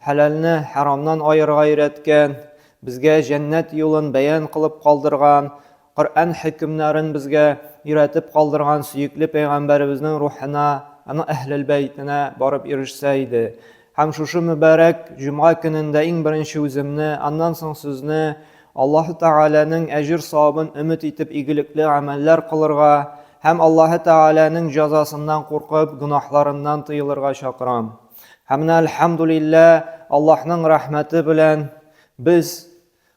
Хәләлне хәрамнан аерырга өйрәткән, безгә җәннәт юлын бәян кылып калдырган, Коръән хөкемнәрен безгә өйрәтеп калдырган сөекле пәйгамбәребезнең рухына, аның Әһлел бәйтенә барып ирешсә иде. Һәм шушы мөбарәк җомга көнендә иң беренче үземне, аннан соң сезне Аллаһы Тәгаләнең әҗер-савабын өмет итеп игелекле гамәлләр кылырга һәм Аллаһы Тәгаләнең җәзасыннан куркып, гөнаһларыннан тыелырга чакырам. Һәм менә әлхәмдулиллә, Аллаһның рәхмәте белән без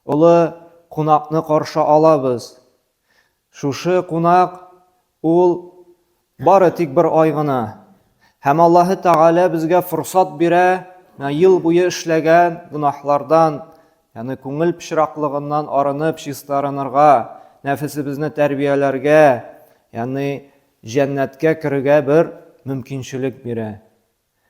олы кунакны каршы алабыз. Шушы кунак ул бары тик бер ай гына. Һәм Аллаһы Тәгалә безгә форсат бирә, ел буе эшләгән гөнаһлардан, ягъни күңел пычраклыгыннан арынып чистарынырга, нәфесебезне тәрбияләргә, ягъни җәннәткә керергә бер мөмкинчелек бирә.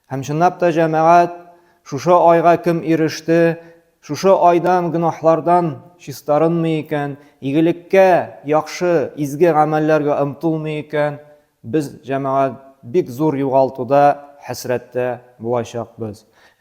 Һәм чынлап та, җәмәгать, шушы айга кем иреште, шушы айдан гөнаһлардан чистарынмый икән, игелеккә, яхшы, изге гамәлләргә омтылмый икән, без, җәмәгать, бик зур югалтуда, хәсрәттә булачакбыз.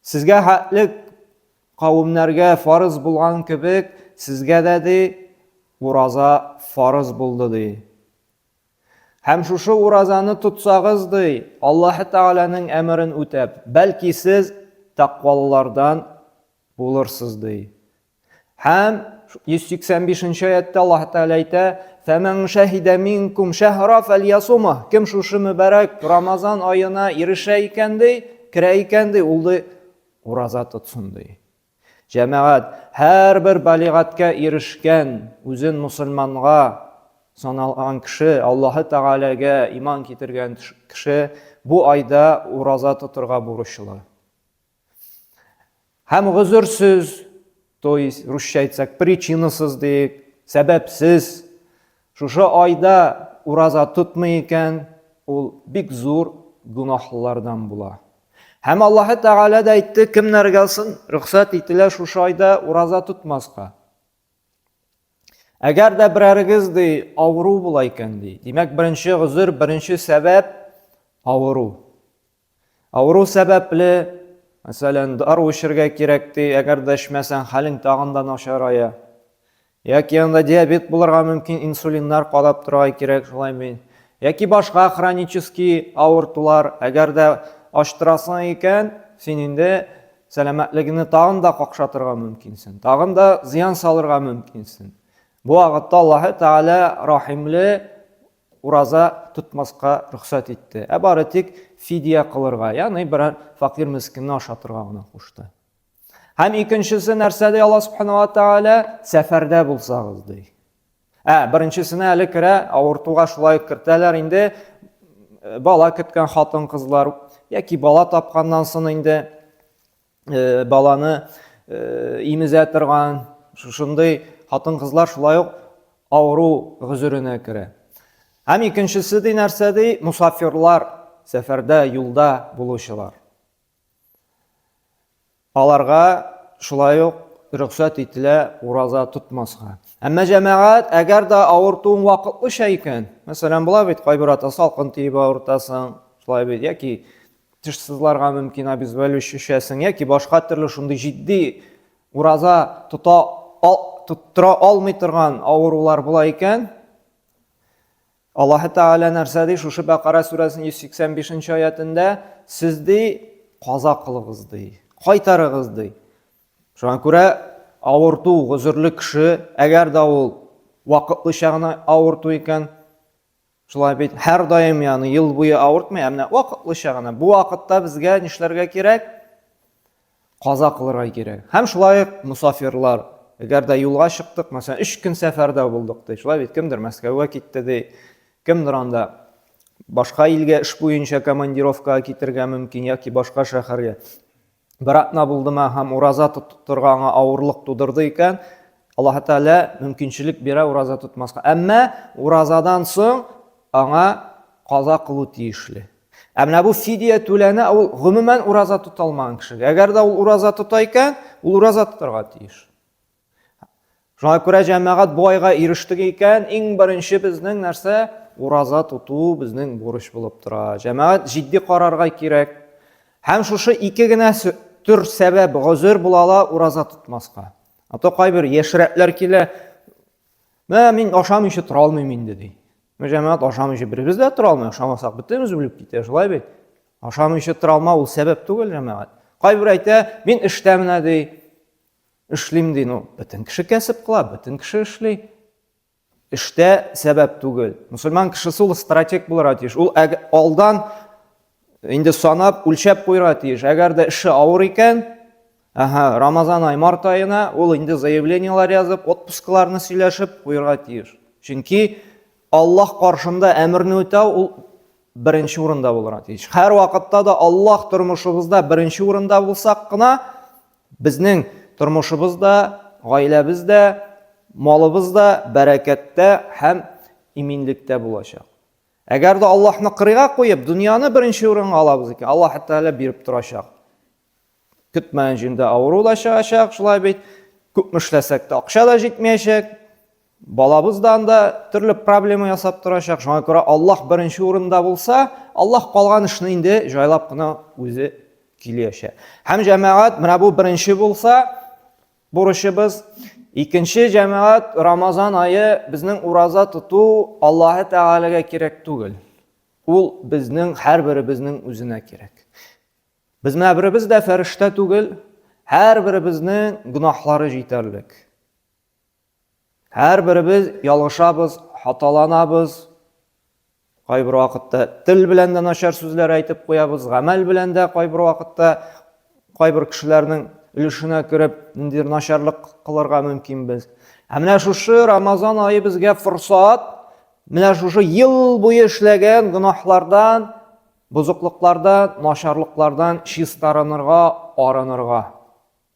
Сезгә хәтлек кавемнәргә фарыз булган кебек, сезгә дә, ди, ураза фарыз булды, ди. Һәм шушы уразаны тотсагыз, ди, Аллаһы Тәгаләнең әмерен үтәп, бәлки сез тәкъвалылардан булырсыз, ди. Һәм 185 нче аятта Аллаһ Тәгалә әйтә, "Фәмән шәһидә минкум шәһра фәльясума". Кем шушы мөбарәк Рамазан аена ирешә икән ди, керә икән ди, ул ди ураза тотсын ди. Җәмәгать, һәрбер балигатькә ирешкән, үзен мусульманга саналган кеше, Аллаһы Тәгаләгә иман китергән кеше бу айда ураза тотырга бурычлы. Һәм гозерсез, то есть русча әйтсәк, причинасыз диек, сәбәпсез. Шушы айда ураза тотмый икән, ул бик зур гөнаһлылардан була. Һәм Аллаһ Тәгалә дә әйтте, кемнәргә сон рөхсәт ителә шушы айда ураза тотмаска. Әгәр дә берәрегез ди авыру була икән ди. Димәк, беренче гозер, беренче сәбәп авыру. Авыру сәбәпле, мәсәлән, дару эчергә кирәк, ди, әгәр дә эчмәсәң, хәлең тагын да начарая. Яки анда диабет булырга мөмкин, инсулиннар кадап торырга кирәк, шулаймы? Яки башка хронический авыртулар, әгәр дә ачтырасың икән, син инде сәламәтлегеңне тагын да какшатырга мөмкинсең, тагын да зыян салырга мөмкинсең. Бу вакытта Аллаһы Тәгалә рахимле, Ураза тотмаска рөхсәт итте, ә бары тик фидия кылырга, ягъни берәр факир-мескенне ашатырга гына кушты. Һәм икенчесе нәрсә ди Алла Субхану ва Тааля, сәфәрдә булсагыз ди. Ә беренчесенә әле керә, авыртуга шулай ук кертәләр инде, бала көткән хатын-кызлар яки бала тапканнан соң инде э, баланы э, имезә торган шушындый хатын кызлар шулай ук авыру гозеренә керә һәм икенчесе ди нәрсә ди мусафирлар сәфәрдә юлда булучылар аларга шулай ук рөхсәт ителә ураза тотмаска әмма җәмәгать әгәр дә авыртуың вакытлыча икән мәсәлән була бит кайбер ата салкын тиеп авыртасың шулай бит яки теш сызларга мөмкин обезвалю шешәсен яки башка төрле шундый җитди ураза тота ал, тоттыра алмый торган авырулар була икән Аллаһы Тәгалә нәрсә ди шушы Бәкара сүрәсенең 185 нче аятендә сез ди каза кылыгыз ди кайтарыгыз ди шуңа күрә авырту гозерле кеше әгәр дә ул вакытлыча гына авырту икән Шулай бит, һәрдаим яны ел буе авыртмый, ә менә вакытлыча гына. Бу вакытта безгә нишләргә кирәк? Каза кылырга кирәк. Һәм шулай ук мусафирлар, әгәр дә юлга чыктык, мәсәлән, 3 көн сәфәрдә булдык ди. Шулай бит, кемдер Мәскәүгә китте ди, кемдер анда башка илгә эш буенча командировкага китергә мөмкин яки башка шәһәргә. бер атна булдымы һәм ураза тотырга аңа авырлык тудырды икән, Аллаһ Тәгалә мөмкинчелек бирә ураза тотмаска. Әмма уразадан соң аңа каза кылу тиешле. Ә менә бу фидия түләнә, ул гомумән ураза тота алмаган кешегә. Әгәр дә ул ураза тота икән, ул ураза тотарга тиеш. Шуңа күрә җәмәгать бу айга ирештек икән, иң беренче безнең нәрсә? Ураза тоту безнең бурыч булып тора. Җәмәгать җитди карарга кирәк. Һәм шушы ике генә төр сәбәп, гозер була ала ураза тотмаска. А то кайбер яшьрәкләр килә, мә мин ашамыйча тора алмыйм инде ди. Мә җәмәгать ашамыйча беребез дә тора алмый, ашамасак бөтенебез үлеп китә, шулай бит. Ашамыйча тора алмау ул сәбәп түгел җәмәгать. Кайбер әйтә, мин эштә менә ди, Эшлим ди, ну, бөтен кеше кәсеп кыла, бөтен кеше эшли. Эштә сәбәп түгел. Мусульман кешесе ул стратег булырга тиеш. Ул алдан инде санап, үлчәп куйырга тиеш. Әгәр дә эше авыр икән, Ага, Рамазан ай, март айына ул инде заявленияләр язып, отпускаларны сөйләшеп куйырга тиеш. Чөнки Аллаһ каршында әмерне үтәү ул беренче урында булырга тиеш. Һәр вакытта да Аллаһ тормышыбызда беренче урында булсак кына, Безнең тормышыбыз да, гаиләбез дә, малыбыз да бәрәкәттә һәм иминлектә булачак. Әгәр дә Аллаһны кырыйга куеп, дөньяны беренче урынга алабыз икән, Аллаһ Тәгалә биреп торачак. Көтмәгән җирдә авыру да чыгачак, шулай бит. Күпме эшләсәк тә акча да җитмәячәк. Балабыз да анда төрле проблема ясап торачак. Шуңа күрә Аллаһ беренче урында булса, Аллаһ калган эшне инде җайлап кына үзе килешә. Һәм җәмәгать менә бу беренче булса, бурычыбыз. Икенче җәмәгать Рамазан айы безнең ураза тоту Аллаһы Тәгаләгә кирәк түгел. Ул безнең һәрберебезнең үзенә кирәк. Без менә беребез дә фәрештә түгел, һәрберебезнең гөнаһлары җитәрлек. Һәрберебез ялгышабыз, хаталанабыз. Кайбер вакытта тел белән дә начар сүзләр әйтеп куябыз, гамәл белән дә кайбер вакытта кайбер кешеләрнең өлешенә кереп, ниндидер начарлык кылырга мөмкин без. Ә менә шушы Рамазан айы безгә форсат, менә шушы ел буе эшләгән гөнаһлардан, бозыклыклардан, начарлыклардан чистарынырга, арынырга.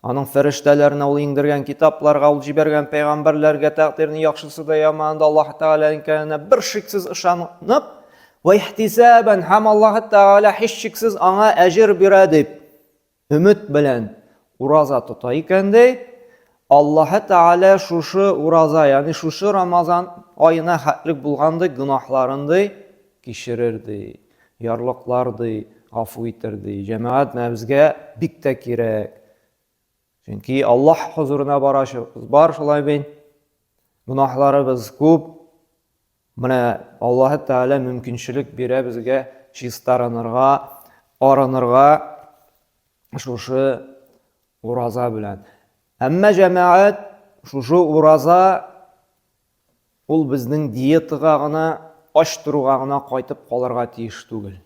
Аның фәрештәләренә ул иңдергән китапларга, ул җибәргән пәйгамбәрләргә, тәкъдирнең яхшысы да, яма да Аллаһ Тәгалә икәненә бер шиксез ышанып, вә ихтисабән һәм Аллаһ Тәгалә һичшиксез аңа әҗер бирә дип өмет белән ураза тота икән дә, Аллаһ Тәгалә шушы ураза, ягъни шушы Рамазан аена хәтлек булгандый гөнаһларын ди кичерер ди. ярлыклар ди, гафу итер ди. Җәмәгать менә безгә бик тә кирәк. Чөнки Аллаһ хозурына барачыбыз бар шулай бит. Гөнаһларыбыз күп. Менә Аллаһ Тәгалә мөмкинчелек бирә безгә чистарынырга, арынырга шушы ураза белән. Әмма җәмәгать шушы ураза Ул безнең диетага гына, ач торуга гына кайтып калырга тиеш түгел.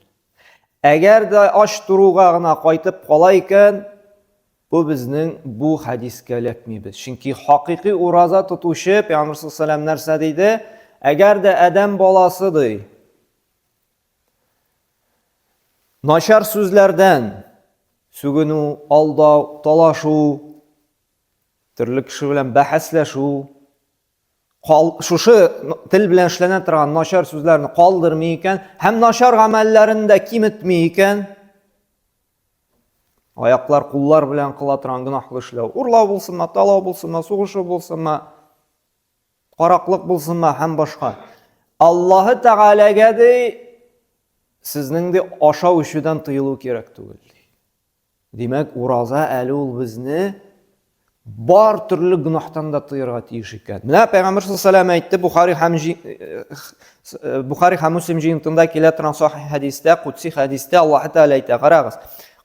Әгәр дә ач торуга гына кайтып кала икән, бу безнең бу хәдискә эләкмибез. Чөнки хакыйкый ураза тотучы Пәйгамбер саллаллаху нәрсә диде? Әгәр дә адәм баласы ди, начар сүзләрдән сүгенү, алдау, талашу, Төрле кеше белән бәхәсләшү, кал, шушы тел белән эшләнә торган начар сүзләрне калдырмый икән һәм начар гамәлләрен дә киметми икән, аяклар, куллар белән кыла торган гөнаһлы эшләү, урлау булсынмы, талау булсынмы, сугышу булсынмы, караклык булсынмы һәм башка. Аллаһы Тәгаләгә ди, сезнең ди ашау ишүдән тыелу кирәк түгел. Димәк, ураза әле ул безне бар төрле гөнаһтан да тыярга тиеш икән. Менә Пәйгамбер саллаллаху алейһи ва әйтте, Бухари һәм э, Бухари һәм Муслим җыентында килә торган сахих хәдистә, кутси хәдистә Аллаһ Тәгалә әйтә, карагыз.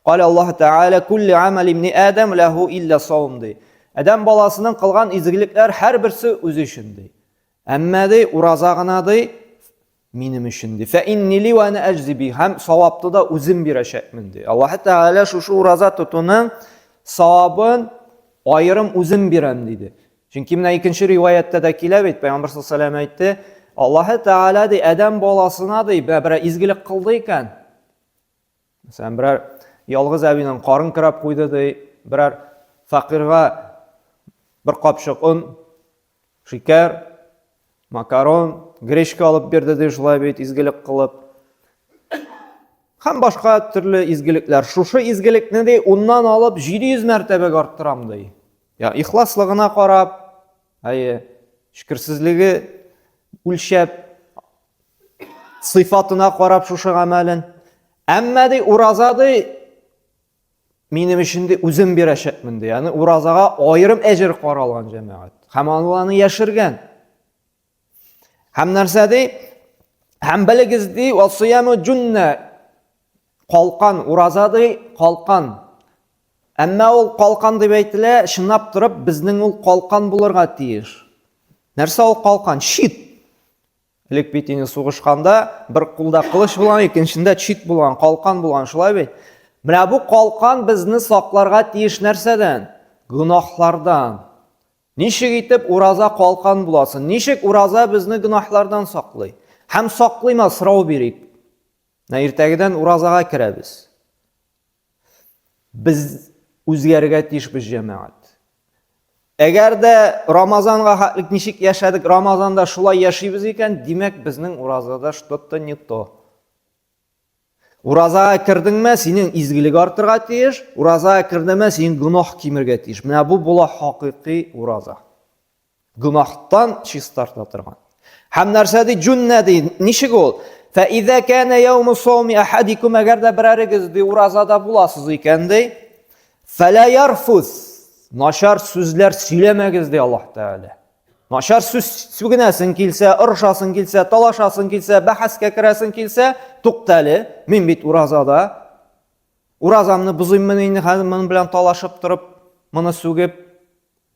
Кале Аллаһ Тәгалә кулли амал ибни Адам лаху илля саум ди. Адам баласының кылган изгелекләр һәрберсе үзе өчен ди. Әмма ди, ураза гына ди, Минем өчен ди. Фә иннили ва ана әҗзи би. Һәм савапты да үзем бирәчәкмен ди. Аллаһы Тәгалә шушы ураза тотуның савабын аерым үзем бирәм диде. Чөнки менә икенче риваяттә дә килә бит, Пәйгамбер саллаллаһу алейһи әйтте, Аллаһы Тәгалә ди, Адәм баласына ди, берәр изгелек кылды икән, Мәсәлән, берәр ялгыз әбинең карын кырап куйды ди, берәр факирга бер капчык он, шикәр, макарон, гречка алып бирде ди, шулай бит изгелек кылып. Һәм башка төрле изгелекләр. Шушы изгелекне ди, уннан алып 700 мәртәбәгә арттырам ди. Я ихласлыгына карап, әйе, шөкерсезлеге үлчәп, сыйфатына карап шушы гамәлен. Әмма ди ураза ди минем өчен ди үзем бирәчәкмен ди. Аны уразага аерым әҗер каралган җәмәгать. Һәм аны яшергән. Һәм нәрсә ди? Һәм белегез ди, васыяму җунна калкан, ураза ди калкан. Әмма ул калкан дип әйтелә, чынлап торып безнең ул калкан булырга тиеш. Нәрсә ул калкан? Шит. Элек бит инде сугышканда бер кулда кылыч булган, икенчендә чит булган, калкан булган, шулай бит. Менә бу калкан безне сакларга тиеш нәрсәдән? Гөнаһлардан. Ничек итеп ураза калкан буласын? Ничек ураза безне гөнаһлардан саклый? Һәм саклыйма сорау бирик. Менә иртәгедән уразага керәбез. Без үзгәрергә тиешбез, җәмәгать. Әгәр дә Рамазанга хәтлек ничек яшәдек, Рамазанда шулай яшибез икән, димәк, безнең уразада что-то не то. Уразага кердеңме, синең изгелек артырга тиеш, уразага кердеңме, синең гөнаһ кимергә тиеш. Менә бу була хакыйкый ураза. Гөнаһтан чистарта торган. Һәм нәрсә ди? Җүннә ди. Ничек ул? Фәизә кәнә яуму сауми ахадикум әгәр дә берәрегез ди уразада буласыз икән ди. Фәлә ярфус. Начар сүзләр сөйләмәгез ди Аллаһ Тәгалә. Начар сүз сүгенәсең килсә, орышасың килсә, талашасың килсә, бәхәскә керәсең килсә, туктале, мин бит уразада. Уразамны бозыйммы инде хәзер моның белән талашып торып, моны сүгеп,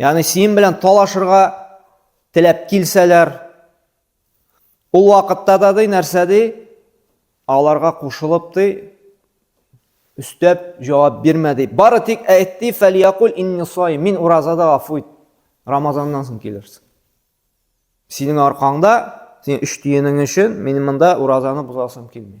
Ягъни синең белән талашырга теләп килсәләр, ул вакытта да ди нәрсә ди? Аларга кушылып ди, өстәп җавап бирмә ди. Бары тик әйт ди, фәлиякуль инни саим, мин уразада гафу ит. Рамазаннан соң килерсең. Синең аркаңда, синең өч тиенең өчен мин монда уразаны бозасым килми.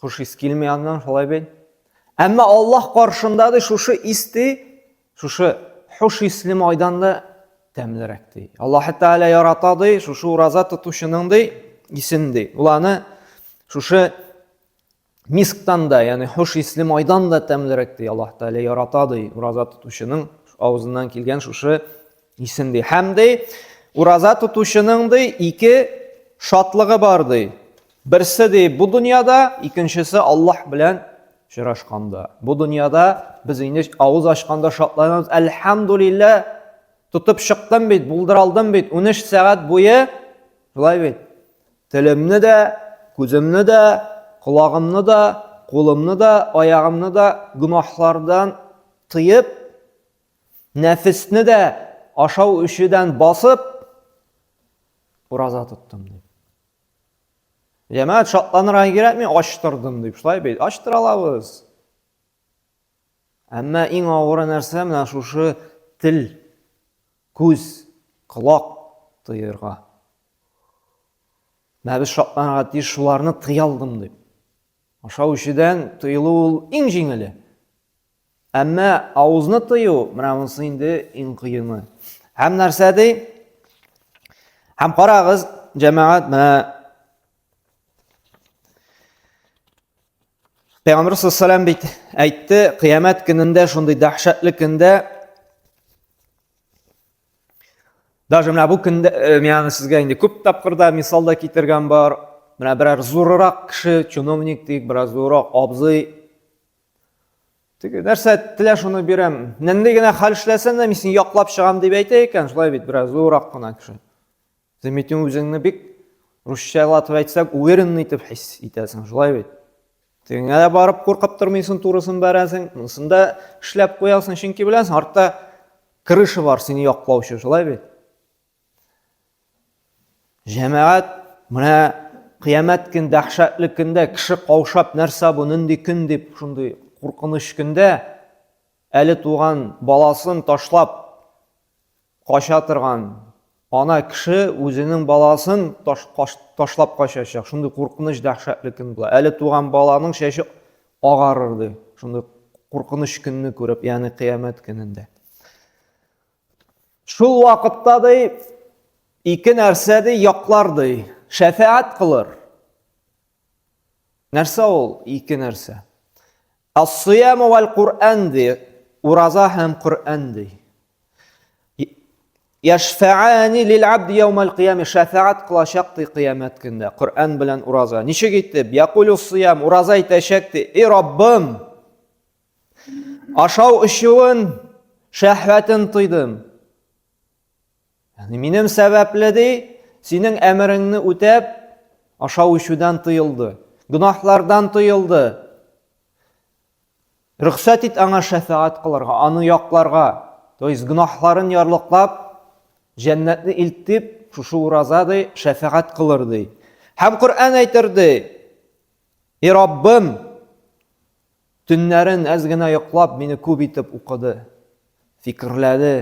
Хуш ис килми аннан шулай бит. Әмма Аллаһ каршында ди шушы ис ди, шушы хуш исле майдан да тәмлерәк ди. Аллаһ Тәгалә ярата ди, шушы ураза тотучының ди исен ди. Ул аны шушы мисктан да, ягъни хуш исле майдан да тәмлерәк ди. Аллаһ Тәгалә ярата ди, ураза тотучының авызыннан килгән шушы Исен ди. Һәм ди, ураза тотучының ди ике шатлыгы бар ди. Берсе ди бу дөньяда, икенчесе Аллаһ белән очрашканда. Бу дөньяда без инде авыз ачканда шатланабыз. Әлхәмдулилла, тотып чыктым бит, булдыра алдым бит. 13 сәгать буе шулай бит. Телемне дә, күземне дә, колагымны да, кулымны да, аягымны да гөнаһлардан тыеп, Нәфесне дә ашау өчедән басып, ураза тоттым дип. Җәмәгать шатланырга кирәкми, ачтырдым дип. Шулай бит, ачтыра алабыз. Әмма иң авыры нәрсә менә шушы тел, күз, колак тыерга. Менә без шатланырга тиеш шуларны тыя алдым дип. Ашау ишедән тыелу ул иң җиңеле. Әмма авызны тыю, менә монысы инде иң кыены. Һәм нәрсә ди? Һәм карагыз, җәмәгать, менә Пәйгамбер саллаллаху бит әйтте, кыямәт көнендә шундый дәһшәтле көндә даже менә бу көндә э, мин сезгә инде күп тапкырда мисал да китергән бар. Менә берәр зурырак кеше, чиновник дик, берәр зурырак абзый Теге нәрсә телә шуны бирәм. Нәндәй генә хәл эшләсәм дә мин сине яклап чыгам дип әйтә икән, шулай бит, бераз зуррак кына кеше. Дмитрий үзеңне бик русчалатып әйтсәк, уверенный итеп хис итәсең, шулай бит. Тегеңә дә барып куркып тормыйсың, турысын бәрәсең, монысын да эшләп куясың, чөнки беләсең, артта крыша бар сине яклаучы, шулай бит. Җәмәгать, менә кыямәт көн дәһшәтле көндә кеше каушап нәрсә бу нинди көн дип шундый куркыныч көндә әле туган баласын ташлап кача торган ана кеше үзенең баласын таш, каш, ташлап качачак шундый куркыныч дәһшәтле көн була әле туган баланың чәче агарыр ди шундый куркыныч көнне күреп ягъни кыямәт көнендә Шул вакытта ди ике нәрсә ди яклар ди, шәфәгать кылыр. Нәрсә ул ике нәрсә? Ас-сиям вал Куръан ди, ураза һәм Куръан ди. Яшфаани лил абд яумал кияме шәфәгать кылачак ди кыямәт көндә Куръан белән ураза. Ничек итеп? Якулю сиям ураза әйтәчәк ди, "И Раббым, Ашау өчен шәһвәтен тойдым. Яни минем сәбәпле ди, синең әмереңне үтәп, ашау ишүдән тыелды, гөнаһлардан тыелды. Рөхсәт ит аңа шәфәгать кылырга, аны якларга, то есть гөнаһларын ярлыклап, җәннәтне илтеп, шушы ураза ди, шәфәгать кылыр ди. Һәм Коръән әйтер ди: "И Раббым, Төннәрен әз генә йоклап, мине күп итеп укыды, фикерләде.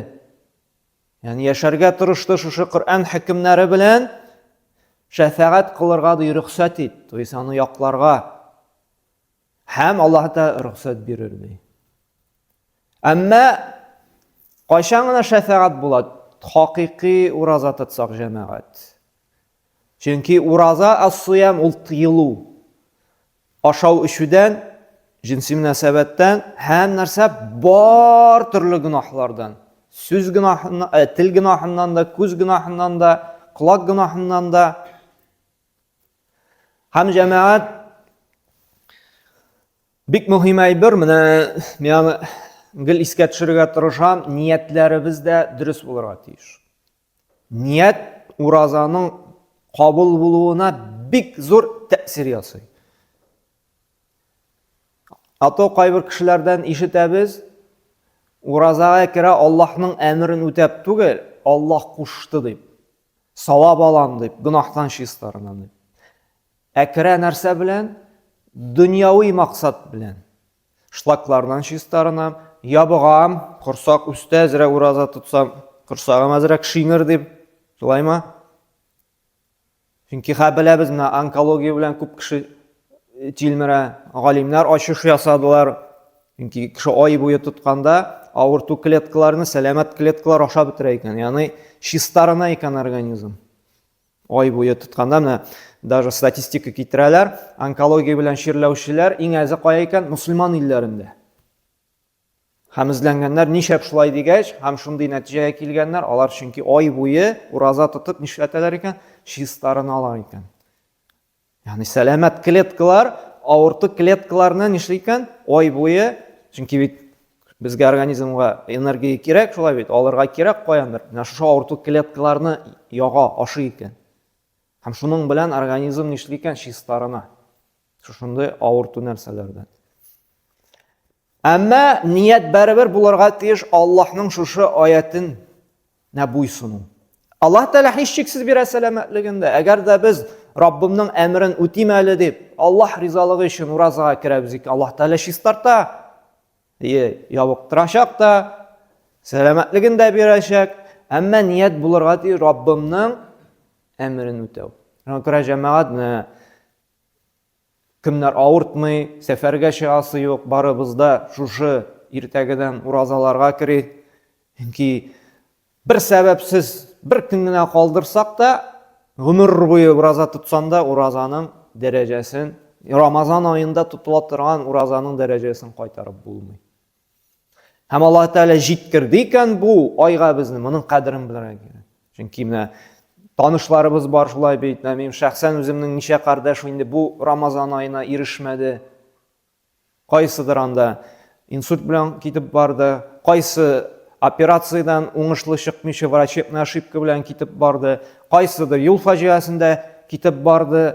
Яни яшәргә тырышты шушы Коръән хөкемнәре белән. Шәфәгать кылырга ди рөхсәт ит, то есть аны якларга. Һәм Аллаһ та рөхсәт бирер ди. Әмма кайчан гына шәфәгать була? Хакыйкый ураза тотсак җәмәгать. Чөнки ураза ас-суям ул тыелу. Ашау-эчүдән, җенси мөнәсәбәттән, һәм нәрсә бар төрле гөнаһлардан. Сүз гөнаһыннан, э, тел гөнаһыннан да, күз гөнаһыннан да, колак гөнаһыннан да. Һәм җәмәгать бик мөһим әйбер, менә миңа гел искә төшерергә тырышам, ниятләребез дә дөрес булырга тиеш. Ният уразаның кабул булуына бик зур тәэсир ясый. Ато кайбер кешеләрдән ишетәбез, уразага керә Аллаһның әмерен үтәп түгел, Аллаһ кушты дип. Савап алам дип, гөнаһтан чистарынам дип. Ә керә нәрсә белән? Дөньяви максат белән. Шлаклардан чистарынам, ябыгам, корсак үстә әзрәк ураза тотсам, корсагым әзрәк шиңер дип, шулаймы? Чөнки хә беләбез, менә онкология белән күп кеше э, тилмерә. Галимнәр ачыш ясадылар. Чөнки кеше ай буе тотканда авырту клеткаларны сәламәт клеткалар ашап бетерә икән. Ягъни чистарына икән организм. Ай буе тотканда менә даже статистика китерәләр, онкология белән чирләүчеләр иң әзе кая икән? Мөселман илләрендә. Һәм эзләнгәннәр ничәп шулай дигәч, һәм шундый нәтиҗәгә килгәннәр, алар чөнки ай буе ураза тотып нишләтәләр икән? Чистарыналар икән. Ягъни сәламәт клеткалар авырты клеткаларны нишли икән? Ай буе, чөнки бит безгә организмга энергия кирәк, шулай бит, алырга кирәк каяндыр. Менә шушы авырту клеткаларны яга, ашый икән. Һәм шуның белән организм нишли икән? Чистарына. Шушындый авырту нәрсәләрдән. Әмма ният барыбер булырга тиеш Аллаһның шушы аятен нә буйсыну. Аллаһ Тәгалә һичшиксез бирә сәламәтлеген дә. Әгәр дә без Раббымның әмерен үтим әле дип, Аллаһ ризалыгы өчен уразага керәбез икән, Аллаһ Тәгалә чистарта, ябыктырачак та, сәламәтлеген дә бирәчәк. Әмма ният булырга тиеш Раббымның әмерен үтәү. Шуңа күрә җәмәгать Кемнәр авыртмый, сәфәргә чыгасы юк, барыбыз да шушы иртәгедән уразаларга кери. Чөнки бер сәбәпсез бер көн генә калдырсак та, гомер буе ураза тотсаң да, уразаның дәрәҗәсен, Рамазан аенда тотыла торган уразаның дәрәҗәсен кайтарып булмый. Һәм Аллаһ Тәгалә җиткерде икән бу айга безне, моның кадерен белергә кирәк. Чөнки менә танышларыбыз бар шулай бит, менә минем шәхсән үземнең ничә кардәш инде бу Рамазан аена ирешмәде. Кайсыдыр анда инсульт белән китеп барды, кайсы операциядән уңышлы чыкмыйча врачебный ошибка белән китеп барды, кайсыдыр юл фаҗиасендә китеп барды.